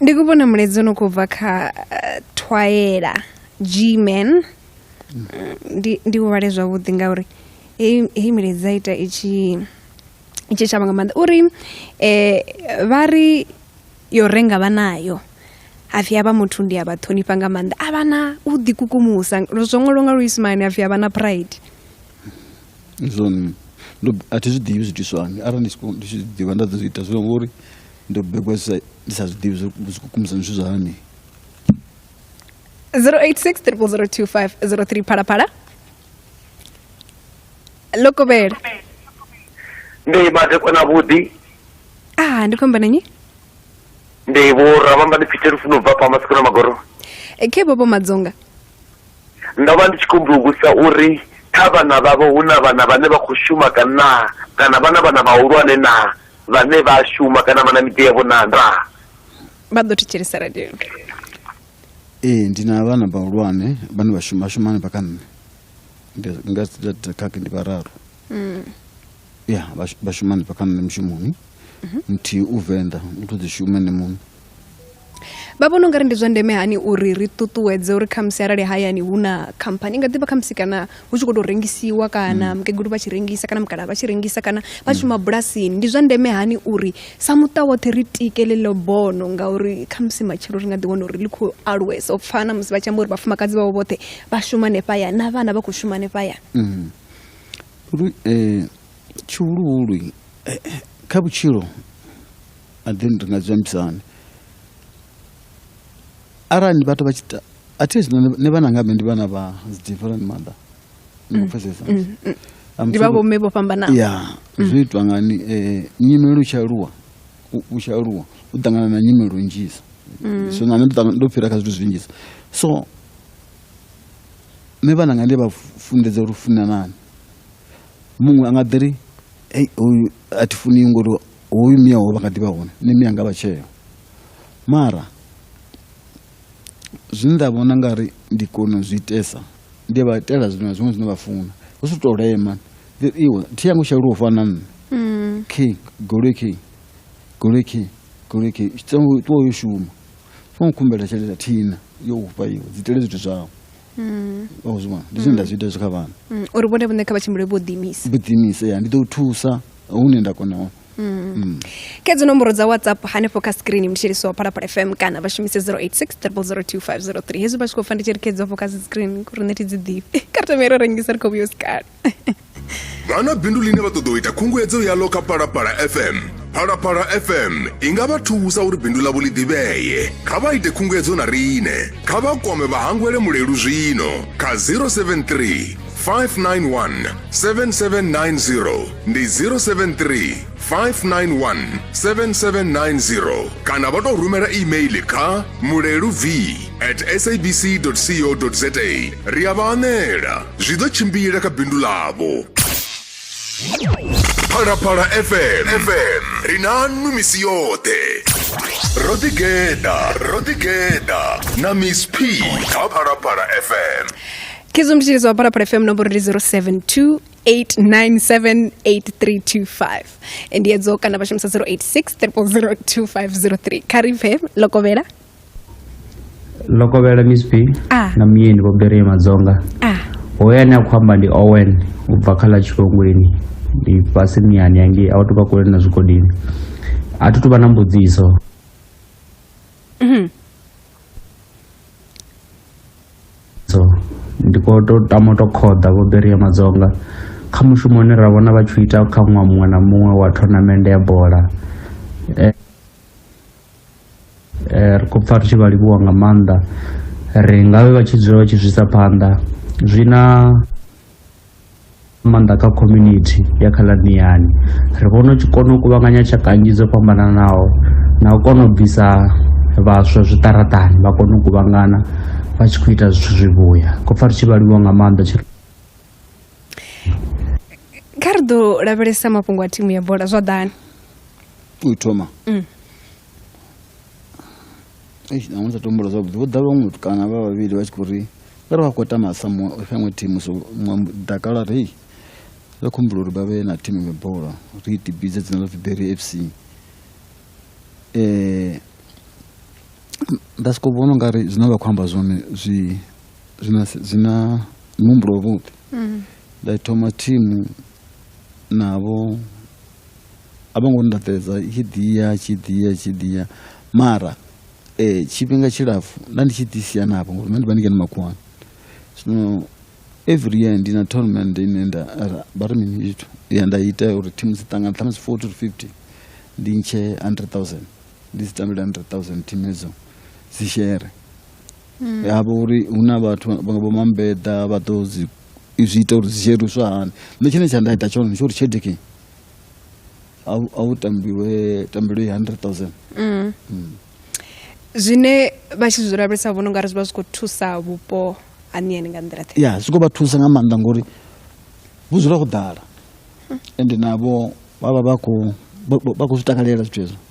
ndi ku vhona mulaedza no khou bva kha eh, thwaela gman ndi ndi u vhale zwavhuḓi ngauri heyi heyi milaedza i ita i tshi i tshi shavha nga maanḓa uri um vha ri yo renga vha nayo hapfi havha muthu ndi a vha ṱhonifha nga maanḓa a vha na u ḓikukumusa lwo zwo ṅwalwa nga luisimane hapfi havha na pride zwone ndo a thi zwi ḓivhi zwiitiswa hani arali ndi tshi khou- ndi tshi zwi ḓivha nda ḓo zwi ita zwino ngori ndo begwa ndi sa zwi ḓivhi zwo kukumisa zwithu zwa hani 0860025003 phalaphala lokovhela ndi madekwa na vhuḓi a ah, ndi khomba nanyi ndi vho rabamba ndi pfite lufuno bva pa masiku na magoro e, khe bobo madzonga ndo vha ndi tshi kumbulukusa uri kha vhana vhavho hu na vhana vhane vha khou shuma kana kana vhana vhana vhahulwane naa vhane vha shuma kana vha na miḓi yavho na ndaa vha ḓo thetshelesa radio ee ndi na vhana vhahulwane vhane vha shuma shuma hanefha kha nṋe nga khakhe ndi vhararu mm. ya vha shuma hanefha kha nṋe mushumoni mhm. muthihi u venḓa u to ḓi shuma ene muṋe vha vhona ungari ndi zwa ndeme hani uri ri ṱuṱuwedze uri khamusi arali hayani hu na khamphani i nga ḓivha khamusi kana hu tshi khou tou rengisiwa kana mm. mukegulu vha tshi rengisa kana mukala vha tshi rengisa kana vha mm. shuma bulasini ndi zwa ndeme hani uri sa muṱa woṱhe ri tike ḽeḽo bono ngauri khamusi matshelo ri nga ḓi wana uri ḽi khou aluwesa u pfana musi vha tshi amba uri vhafumakadzi vhavho vhoṱhe vha shuma nefhaya na vhana vha khou shuma nefhaya mm. uri um tshihuluhulu eh, eh, kha vhutshilo and then ri nga zwi ambisa hani arali vhathu vha tshi ta at least nṋe- nṋe vhana nga mme ndi vhana vha different mother ndi khou pfesesa I'm ndi vha sorry. vhomme vho fhambanaho ya zwi itwa ngani eh, nyimelo i tshi aluwa u- u tshi aluwa u ṱangana na nyimelo nnzhisa so na nṋe ndo ṱangana- ndo fhira kha zwithu zwinzhisa so nṋe vhana nga ndi vha fu- funḓedza uri u funanani muṅwe a nga ḓiri ei hoyu a thi funi ngori hoyu mia wawe vha nga ḓivha hone nṋe mia nga vha tsheo mara zwine nda vhona nga ri ndi kona u zwi itesa ndi vha itela zwiṅwe na zwiṅwe zwine vha funa hu si tou lema iwe thi yangu sha lufha na nṋe mm. khe goloi khe goloi khe goloi khe ṱuwa yo shuma fo khumbela tshelede thina yo ufha iwe dzi tele zwithu zwau mm. oh, zwivhona ndi zwine nda zwi ita zwi kha vhana mm. uri vhone vhune kha vha tshimbile vho ḓiimisa vho ḓiimisa ya ndi ḓo u thusa hune nda kona hone Mm. ke dzi nomboro dza whatsapp hanefho kha screen mshelisi wa phalaphala fm kana vha shumise 0860025003 hezwi vha tshi khou pfa ndi tshi ri khe dzi hafho kha dzi screen ri neti dzi ḓifhe kha ri tamaire rengisa ri khou vhuyo sikale Vha na bindu ḽine vha ṱoḓa u ita khunguwedzo yaḽo kha Phalaphala FM? Phalaphala FM i nga vha thusa uri bindu ḽavho ḽi ḓivhee. Kha vha ite khunguwedzo na riṋe. Kha vha kwame Vhahangwele Mulelu zwino kha 073 591 7790 ndi 073 591 7790 kana vha tou rumela email kha mulelu v at sabc co za ri a vha anela zwi ḓo tshimbila kha bindu ḽavho phalaphala fm fm ri na nnu misi yoṱhe ro ḓigeda ro ḓigeda na miss p kha phalaphala fm khizomtshilizo wa phalaphala fm nomboro ndi 072 08978325 ndi edzo kana vha shumisa 0863002503 kha ri pfe lokovhela lokovhela miss p Ah. na muyeni vho bereye madzonga ah hoyo ane a khou amba ndi owen u bva kha ḽa tshikongweni ndi fhasi miyani yangei a u tou vha kule na zwigodini a thi tu vha na mbudziso so ndi khou tou tama u tou khoḓa vho beria madzonga kha mushumo une ra vhona vha tshi ita kha ṅwaha muṅwe na muṅwe wa thonamende ya bola eh, eh, ri khou pfa ri tshi vha livhuwa nga maanḓa ri ngavhe vha tshi dzula vha tshi zwisa phanḓa zwi na nga maanḓa kha community ya kha ḽaniyani ri vhona u tshi kona u kuvhanganya tshaka nnzhi dzo fhambananaho na u kona u bvisa vhaswa zwiṱaraṱani vha kone u kuvhangana vha tshi khou ita zwithu zwivhuya khou pfa ri tshi vhaliwa nga maanḓa tshi kha ri ḓo lavhelesa mafhungo a thimu ya bola zwa ḓani u thoma mm. Eish nṋe sa tumbula zwavhuḓi vho ḓa vhaṅwe muthu kana vha vhavhili vha tshi khou ri vha ri vha khou tama sa muṅwe kha iṅwe thimu so muṅwe dakala ri hei ri khou humbula uri vha vhe na thimu iṅwe bola ri i tibidze dzina ḽa pfi berry f c um nda sokou vhona u nga ri zwine vha khou amba zwone zwi zwina zwina muhumbulo wavhuḓi nda i thoma thimu navho a vho ngo ndaṱedza i tshi ḓiya tshi ḓiya tshi ḓiya mara um tshifhinga tshilapfhu nda ndi tshi ḓi sia navho ngori nṋe ndi vha ndi ngeno makhuwani zwino every year ndi na tournament ine nda vha ri mini zwithu ya nda ita uri thimu dzi ṱangana ṱhamusi forty to fifty ndi ntshe hundred thousand ndi dzi tambele hundred thousand thimu edzo dzi shere havha hmm. uri hu na vhathu vho mambeḓa vha ḓo dzi zwi ita uri zwi luswa hani nṋe tshine tsha nda ita tshone ndi tsho uri tshelede kini a u tambiwe tambelo i hundred thousand mm. mm. zwine vha tshi zwi lavhelesa vhono nga ri zwi vha zwi khou thusa vhupo haniyani nga nḓila ya zwi khou vha thusa nga maanḓa ngori vhu dzula go ḓala ende navho vha vha vha khou zwi takalela zwithu hezwo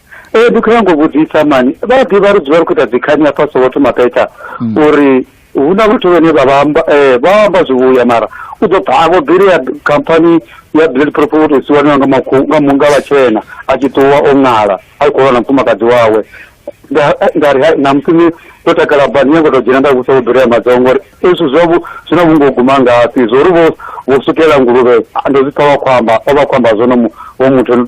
ee ndi khou nyanga u vhudzisa mani vha ḓivha ri dzula ri khou ita dzikhani hafha soweto mapeta Mm. uri hu na vhathu vhane vha vha amba eh, vha amba zwivhuya mara u ḓo pfa avho bili ya khamphani ya blood proof u tou siwaniwa nga makhu- nga mu- nga vhatshena a tshi ṱuwa o ṅala a tshi khou lwa na mufumakadzi wawe Nda- eh, nda ri hai, na musi ni ndo takala ba ni nyanga u tou dzhena nda vhusa u bili ya madzongo ngori ezwi zwa vhu- zwi na vhungo guma ngafhi zwo ri vho vho sukela nguluvhe ah, ndo zwi pfa vha khou amba vha vha khou amba zwono mu- vho muthu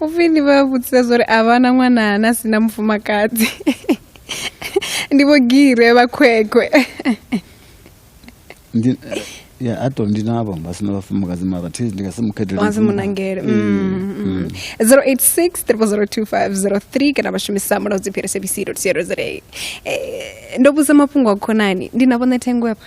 upfhi ni vha vhudzisa zwa uri a vha na ṅwana na si na mufumakadzi ndi vho gire vha khwekhwe ndi ya a to ndi navho vha sina vhafumakadzi mara thi ndi nga si mukhetele wazi munangele 0863002503 kana vha shumisa mulaudzi phiri cbc co za ndo vhudza mafhungo a khonani ndi na vhone thengo hafha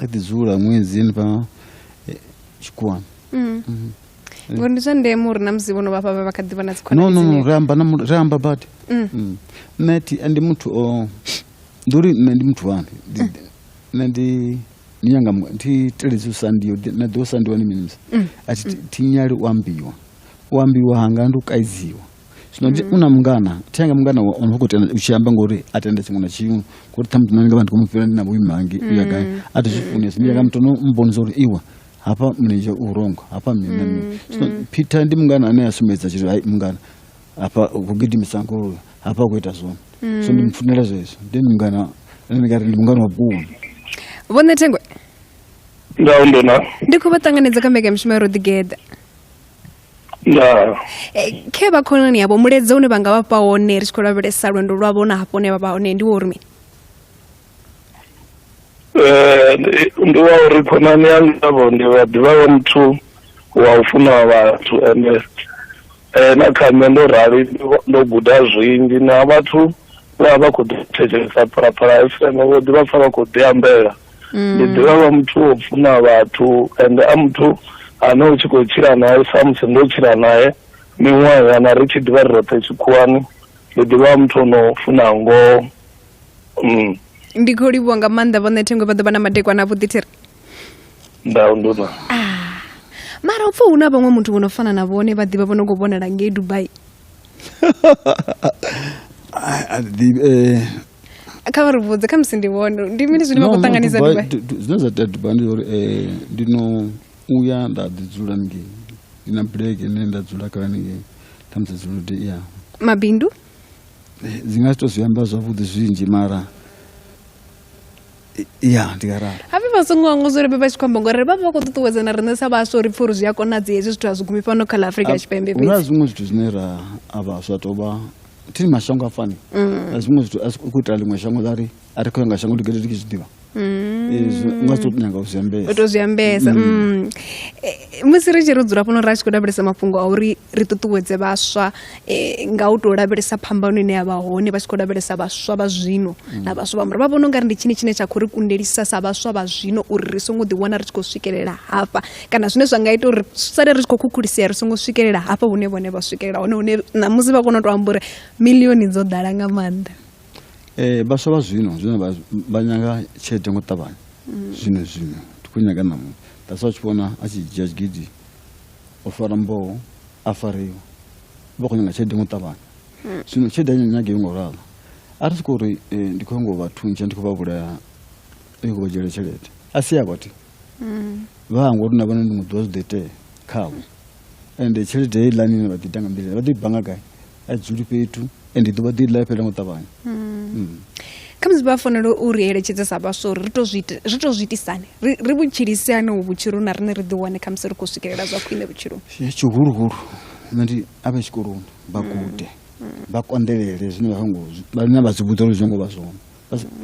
a ḓi dzula ṅwedzini vha eh, tshikhuwani mm. mm. ngori ndi zwa ndeme uri na musi vhono vhafha vha kha ḓivha na dzikhonano ri amba na ri amba badi mm. mm. nṋe thi ndi muthu o ndi uri nṋe ndi muthu wani mm. nṋe ndi ni nyanga thi teledzi u sandiwa na ḓiwo sandiwa ni mini musi a thi nyali u ambiwa u ambiwa hanga ndi u kaidziwa zwino ndi mm. una mungana thenga mungana wa ono khou tenda u tshi amba ngori a tenda tshiṅwe na tshiṅwe ngori ṱhamuṱi nṋe ndi nga vha ndi khou mu fhira ndi na vhuimangi u ya gai mm. a thi zwi funesi ndi ya nga muthu no mbonisa uri iwa hafha mulenzhe u wrong hafha mini na mini zwino mm, peter ndi mungana ane a sumbedza tshiri hai mungana hafha ku gidimisa ngoloi hafha ku ita zwone so ndi mfunela zwezwo ndi ndi mungana ane ndi nga ri ndi mungana wa vhukuma vhone thengwe ndau ndona ndi khou vha ṱanganedza kha mbekanyamushumo ya ro ḓigeḓa eh, khe vha khonani yavho muledze une vha nga vha fha wone ri tshi khou lavhelesa lwendo lwavho na hafho ne vha vha hone ndi wo uri mini eh, ndi wa uri khonani ya ngavho ndi vha ḓivha wa muthu wa u funa vhathu ende eh, na kha nṋe ndo rali ndo guda zwinzhi na vhathu vho vha vha khou ḓi thetshelesa phalaphala fm vho ḓi vha pfa vha khou ḓi ambela ndi mm. ḓivha vha muthu wo funa vhathu ende a muthu ane u tshi khou tshila naye samusi ndo tshila naye miṅwaha yana ri tshi ḓivha ri roṱhe tshikhuwani ndi ḓivha muthu ono funa ngoho mm. ndi khou livhuwa nga maanḓa vhoṋe thengwe vha ḓo vha na madekwana avhuḓi thiri ndau nduna ah. mara u pfa hu na vhaṅwe muthu vho no fana na vhone vha ḓivha vho no khou vhonala ngei dubai Ah, ah, the, eh, kha vha ri vhudze kha musi ndi vhone ndi mini zwine vha no, khou no, ṱanganisa Dubai- dubai du- du- zwine zwa tea dubai ndi uri eh, ndi no uya nda ḓi dzula ningei ndi na bulege ine nda dzula kha ningei ṱhamusi dzuludi ya mabindu Eh, dzi nga si to zwi amba zwavhuḓi zwinzhi mara ya ndi nga ralo hape vha songo hangwa zwo ri vha tshi khou amba ngori vha vha vha khou ṱuṱuwedza na riṋe sa vhaswa uri pfha uri zwi a konadzi hezwi zwithu a zwi gumi fhano kha ḽa afurika tshipembe hu na zwiṅwe zwithu zwine ra a vhaswa tou vha thini mashango a fani mm. na zwiṅwe zwithu a zwi khou itela ḽiṅwe shango ḽa ri a ri khou ya nga shango ligede ri ki zwi ḓivha mm. nga zwi tou nyanga u zwi ambesa u tou zwi ambesa mm. eh, musi ri tshi ro dzula fhano ra tshi khou lavhelesa mafhungo a uri ri ṱuṱuwedze vhaswa eh, nga u tou lavhelesa phambano ine ya vha hone vha tshi khou lavhelesa vhaswa vha zwino mm. na vhaswa vha mura vha vhona u nga ri ndi tshini tshine tsha khou ri kundelisa sa vhaswa vha zwino uri ri songo ḓiwana ri tshi khou swikelela hafha kana zwine zwa nga ita uri sale ri tshi khou khukhulisea ri songo swikelela hafha hune vhone vha swikelela hone hune ṋamusi vha kona u tou amba uri milioni dzo ḓala nga maanḓa eh, vhaswa vha zwino zwino vha nyanga tshelede ngo ṱavhanya mm. zwino zwino ndi khou nyaga ṋamusi that's why u tshi vhona a tshi dzhia tshigidi o fara mboho a fariwa vha khou nyanga tshelede ngo ṱavhanya hmm. zwino tshelede a nyage yo ngo ralo a ri soko uri eh, ndi khou ngo vha thuntsha ndi khou vha vhulaya ndi khou vha dzhiela tshelede a si ya vhathu hmm. vha hango uri na vhone ndi muḓivha zwi ḓo itea khavho ende tshelede heiḽani ine vha ḓi ita nga mbilaelo vha ḓo i banga gai a dzuli fhethu and ḓuvha ḓi ḽa fhela ngo ṱavhanya hmm. Hmm. kha musi vha fanela u ri eletshedze sa vhaswa uri ri to zwi itisane ri vhutshilise ane u vhutshilo na riṋe ri ḓi wane kha musi ri khou swikelela zwa khwine vhutshiloni tshihuluhulu nṋe ndi a vhe tshikoloni vha hmm. gude vha konḓelele zwine vha songo vhane vha zwi vhudza uri zwi ngo vha zwone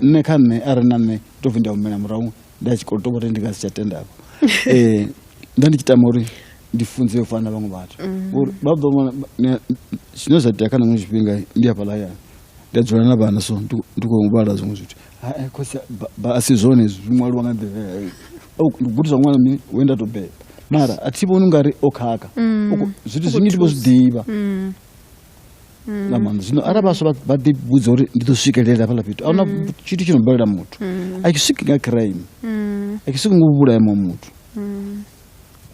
nṋe kha nṋe a re na nṋe to bvi nda humela murahu nda tshi khou tou uri ndi nga si tsha tenda um eh, nda ndi tshi tama uri ndi funze yo fana na vhaṅwe vhathu mm. uri vha ḓo vhona zwine zwa tea kha naṅwe zwifhinga ndi hafhaḽa hayani ndi a dzula na vhana so ndi khou vhala zwiṅwe zwithu eh, khosi a si zwone zwi ṅwaliwa nga nḓila oh, ndi gudiswa ṅwana mini we nda tou beba mara a thi vhoni u nga ri o khakha mm. zwithu zwinzhi ndi vho zwi ḓivha mm. mm. nga maanḓa zwino arali vhaswa vha ḓi vhudza uri ndi ḓo swikelela hafhaḽa fhethu a huna mm. tshithu tshi no balela muthu mm. a tshi swiki nga crime a tshi swiki ngo vhulaya muṅwe muthu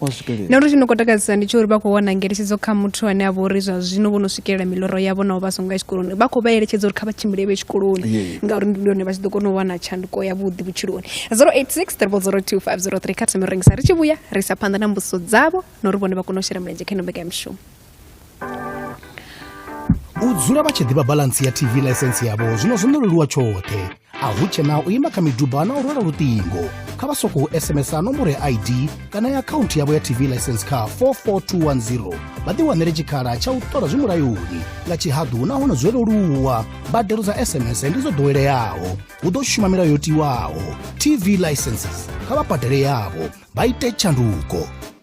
wa swikelela na uri tshi no khou takadzisa ndi tsho uri vha khou wana ngeletshedzo kha muthu ane a vha uri zwa zwino vho no swikelela miloro yavho nao vha songo ya tshikoloni vha khou vha eletshedza uri kha vha tshimbile vhe tshikoloni ngauri ndi hone vha tshi ḓo kona u wana tshanduko yavhuḓi vhutshiloni 086 02503 kha thome rengisa ri tshi vhuya ri sa phanḓa na mbudziso dzavho na uri vhone vha kone u shela mulenzhe kha ino mbekanyamushumo u dzula vha tshi ḓivha balansi ya tv ḽaisensi yavho zwino zwo no leluwa tshoṱhe a hu tshena u ima kha miduba na u rwela luṱingo kha vha sokou sms a nomboro ya id kana ya akhaunthu yavho ya tv license kha 44210 vha ḓiwanele tshikhala tsha u ṱola zwi mulayoni nga tshihaḓu nahone zwo leluwa mbadelo dza sms ndi dzo ḓoweleaho hu ḓo shuma milayo yo tiwaho tv licenses kha vha badele yavho vha ite tshanduko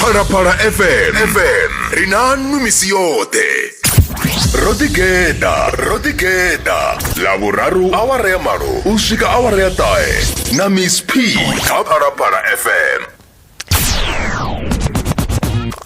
phalaphala fm fm ri na nwi misi yoṱhe ro ḓigeḓa ro ḓigeḓa ḽavhuraru awara ya malo u swika awara ya ṱahe na miss p kha phalaphala fm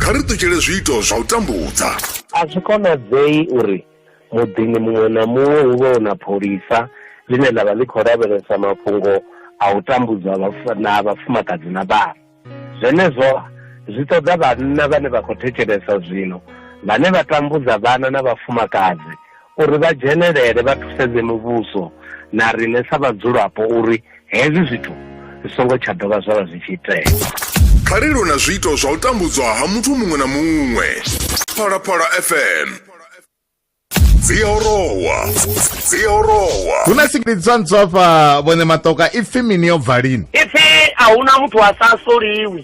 kha ri ṱutshele zwiito zwa u tambudza a zwi konadzei uri muḓini muṅwe na muṅwe hu vhe na pholisa ḽine ḽa vha ḽi khou lavhelesa mafhungo a u tambudzwa na vhafumakadzi na vhana zwenezwo zwi ṱoḓa vhanna vhane vha khou thetshelesa zwino vhane vha tambudza vhana na vhafumakadzi uri vha dzhenelele vha thusedze muvhuso na riṋe sa vhadzulapo uri hezwi zwithu zwi songo tsha dovha zwa vha zwi tshi itea kha ri lwe na zwiito zwa u tambudzwa ha muthu muṅwe na muṅwe phalaphala fm dzi a orowa dzi a orowa hu na singilidzwa ntswafha vhone matoka ipfi mini yo bva lini ipfi a huna muthu a sa soliwi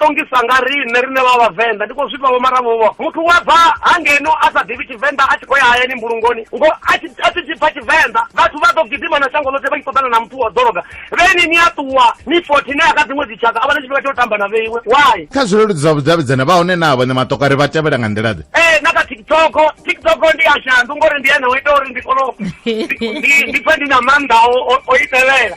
ṱongisa nga riṋe riṋe vha vhavenḓa ndi khou zwifha vho mara vhovho muthu wa bva hangeno a sa ḓivhi tshivenḓa a tshi khou ya hayani mbulungoni ngo a tshi tshi pfa tshivenḓa vhathu vha ḓo gidima na shango ḽoṱhe vha tshi ṱoḓana na muthu wa ḓoroga vheni ni a ṱuwa ni fothi ne ya kha dziṅwe dzitshaka a vha na tshifhinga tsha u tamba na vheiwe why kha zwileludzi zwa vhudavhidzana vha hone na vhone matoka ri vha tevhela nga nḓila ḓe ee na kha tiktok tiktok ndi a shandu ngori ndi ene o ita uri ndi kone ndi pfe ndi na maanḓa o i tevhela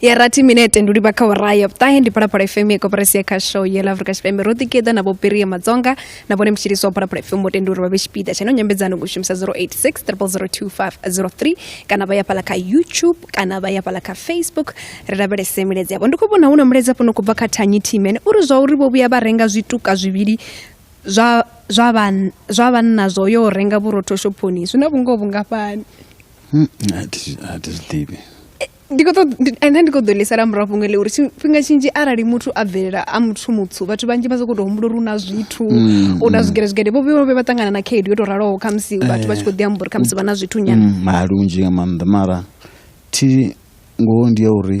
ya rathi minete ndi u livha kha ora ya vhuṱahe ndi phalaphala fm ya koporasi ya khasho ya la afrika tshipembe ro ḓigeḓa na vhopirie madzonga na vhone mutshilisi wa phalaphala fm mutende uri vha vhe tshipiḓa tsha ino nyambedzano ngo shumisa 086 002503 kana vha ya fhala kha youtube kana vha ya fhala kha facebook ri lavhelese miledzi yavho ndi khou vhona hu na miledzi afho no khou bva kha tanyi timen uri zwa uri vho vhuya vha renga zwituka zwivhili zwa zwa vhanna zwo yo renga vhurotho shophoni zwi na vhungoho vhungafhani Hmm, a thi zwi- a thi zwi ḓivhi Eh, ndi khou ṱoḓ- ndi- ende ndi khou ḓo ḽisela murahu fhungo ḽe uri tshifhinga tshinzhi arali muthu a bvelela a muthu mutswu vhathu vhanzhi vha sokou tou humbula uri u na zwithu Mm, u na mm. zwigede zwigede vho vho vhe vha ṱangana na khaedu yo tou raloho khamusi vhathu vha tshi khou ḓi amba uri khamusi vha na zwithu nyana Mm, mara lunzhi nga maanḓa mara thi ngoho ndi ya uri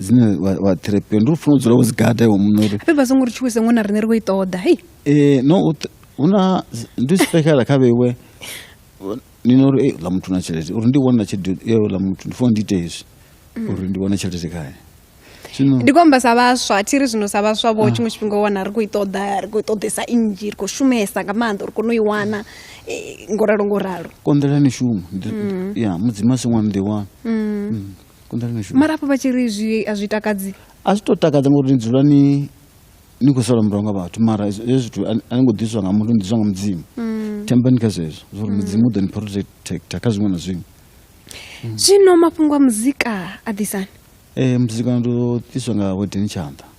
dzine wa- wa therapia ndi u funa u dzula wo dzi gada iwe muṋe uri fhedzi vha songo ri tshuwise ngo na riṋe ri khou i ṱoḓa hei Eh, no u th- hu na z- ndi u spekhala kha vheiwe ni no uri "Ei, ḽa muthu na tshelede uri ndi wana tshelede yo ḽa muthu ndi funa ndi ite hezwi uri ndi wane tshelede khaye zwino ndi khou amba sa vhaswa thi ri zwino sa vhaswa vho tshiṅwe tshifhinga u wana ri khou i ṱoḓa ri khou i ṱoḓesa nnzhi ri khou shumesa nga maanḓa uri kone u i wana eh, ngo ralo ngo ralo konḓela ni shumo Ndi- ya mudzimu a si ṅwana ḓi wana konḓa ḽi no shuma mara hafho vha tshi ri zwi a zwi takadzi a zwi to takadza ngori ni dzula ni ni khou sala murahu nga vhathu mara hezwo hezwo zwithu a ni- a ni ngo ḓiswa nga muthu ni ḓiswa nga mudzimu thembani kha zwezwo zwori mudzimu u ḓo ni protecta kha zwiṅwe na zwiṅwe zwino mafhungo a muzika a ḓisani um muzika ndo ḓiswa nga wedeni tshanḓa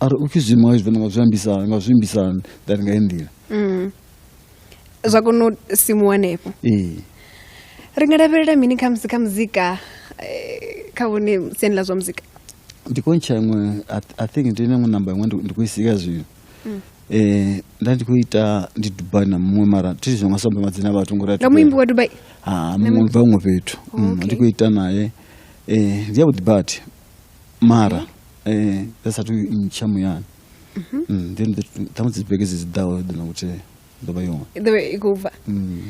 a ri u pfhi zwiimo hezwo nga zwi ambisa nga zwi ambisa hani that nga nḓila mm. zwa kona u simu hanefho ee ri nga lavhelela mini kha musi kha muzika eh, kha vhone siani ḽa zwa muzika ndi khou ntsha iṅwe i think ndi na iṅwe namba iṅwe ndi khou i sika zwino mm. eh nda ndi khou ita ndi dubai na muṅwe mara thi zwi nga samba madzina vhathu ngori nga muimbi wa dubai ha muṅwe bva huṅwe fhethu mm, ndi khou ita naye eh ndi yavhuḓi badi mara eh dza sa tu ntsha muyani mhm. mm then the tamu dzi beke dzi dawo ḓo na kutea ḓo vha yone ḓo vha i khou bva mm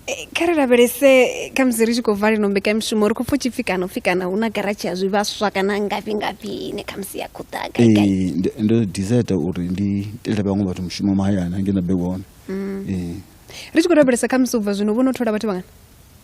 eh, kha ri lavhelese kha musi ri tshi khou bva lino mbekamishumo ri khou pfa tshipfi kana upfi kana hu na garatshi ya zwivhaswa kana ngafhi ngafhi ine kha musi ya khou ḓa eh, ndo desire uri ndi tele vhaṅwe vhathu mushumo mahayani hangei na bekone mm. eh. ri tshi khou lavhelesa kha musi u bva zwino vho no thola vhathu vhangana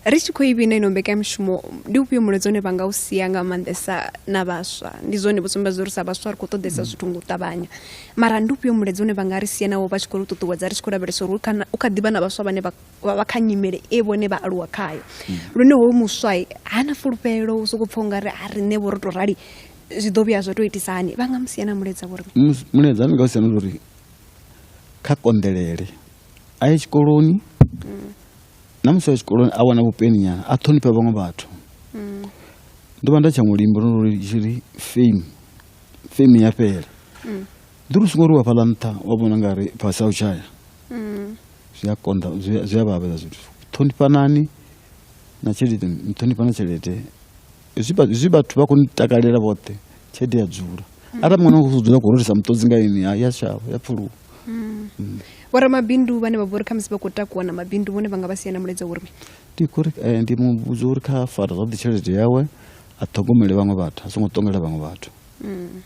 Ri tshi khou i vhina ino mbekanyamushumo ndi ufhio mulaedza une vha nga u sia nga maanḓesa na vhaswa ndi zwone vho sumbedza uri sa vhaswa ri khou ṱoḓesa mm. zwithu nga u ṱavhanya mara ndi ufhio mulaedza une vha nga ri sia nawo vha tshi khou ri ṱuṱuwedza ri tshi khou lavhelesa uri u kha ḓivha na vhaswa vhane vha vha kha nyimele e vhone vha aluwa khayo mm. lune hoyu muswa ha na fulufhelo u sokou pfha u nga ri a riṋe vho ro tou rali zwi ḓo vhuya zwa tou itisa hani vha nga mu sia na mulaedza vhori mulaedza ni nga u sia na uri kha konḓelele a ye tshikoloni mm. na musi a tshikoloni a wana vhupeni nyana a ṱhonifha vhaṅwe vhathu mm. ndo vha nda tsha mulimbo no ri tshiri fame fame ya fhela mm. ndi ri songo ri wa fhaḽa nṱha wa vhona nga ri fhasi a u tshaya mm. zwi a konḓa zwi a vhavhela zwithu ṱhonifhanani na tshelede ṱhonifha na tshelede zwi vhathu vha khou ni takalela vhoṱhe tshelede ya dzula mm. arali mwana u dzula khou rotisa muṱodzi nga ini ya shavha ya pfuluwa mm. mm. vhoramabindu vhane vha vhori kha musi vha khou takuwa na mabindu vhone vha nga vha sia na mulaedza uri ndi kuri eh, ndi muvhudza uri kha fara zwavhuḓi tshelede yawe a ṱhogomele vhaṅwe vhathu a songo ṱongela vhaṅwe vhathu Mm.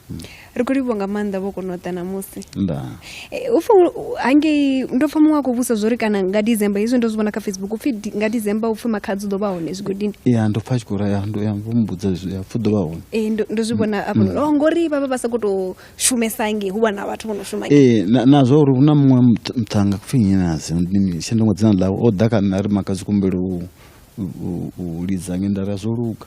ri khou livhuwa nga maanḓa vho kona u ḓa namusi nda Eh, u pfa u- hangei ndo pfa muṅwe a khou vhusa zwori kana nga december hezwi ndo zwi vhona kha facebook upfi di- nga december upfi makhadzi u ḓo vha hone zwigodini ya ndo pfa a tshi khou raya ndo ya vho mbudza zwi- ya pfa u ḓo vha hone Eh, ndo ndo zwi vhona afho oh, ngori vha vha vha sa khou tou shumesa ngei hu vha na vhathu vho no shuma ngei. ee na- na zwa uri hu na muṅwe muth- muthannga kupfi nnyi nazi shandongo dzina ḽawe o ḓa kha nṋe a ri makadzi kumbelo u- u- u lidza nge nda ri a zwo luga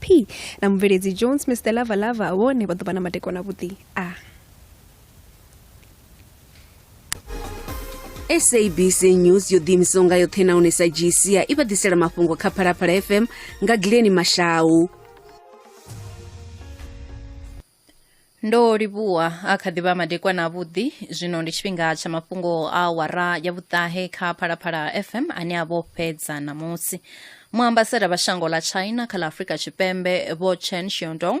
P na mubveledzi Jones Mister Lava Lava vhone vha ḓo vha na madekwana avhuḓi a sabc news yo ḓiimisaho nga yoṱhe nahone sa gca i vha ḓisela mafhungo kha phalaphala fm nga gileni mashau ndo livhuwa a kha ḓivha madekwana avhuḓi zwino ndi tshifhinga tsha mafhungo a wara ya vhuṱahe kha phalaphala fm ane a vho fhedza ṋamusi muambasada vha shango ḽa china kha ḽa afrika tshipembe vho chen shiondong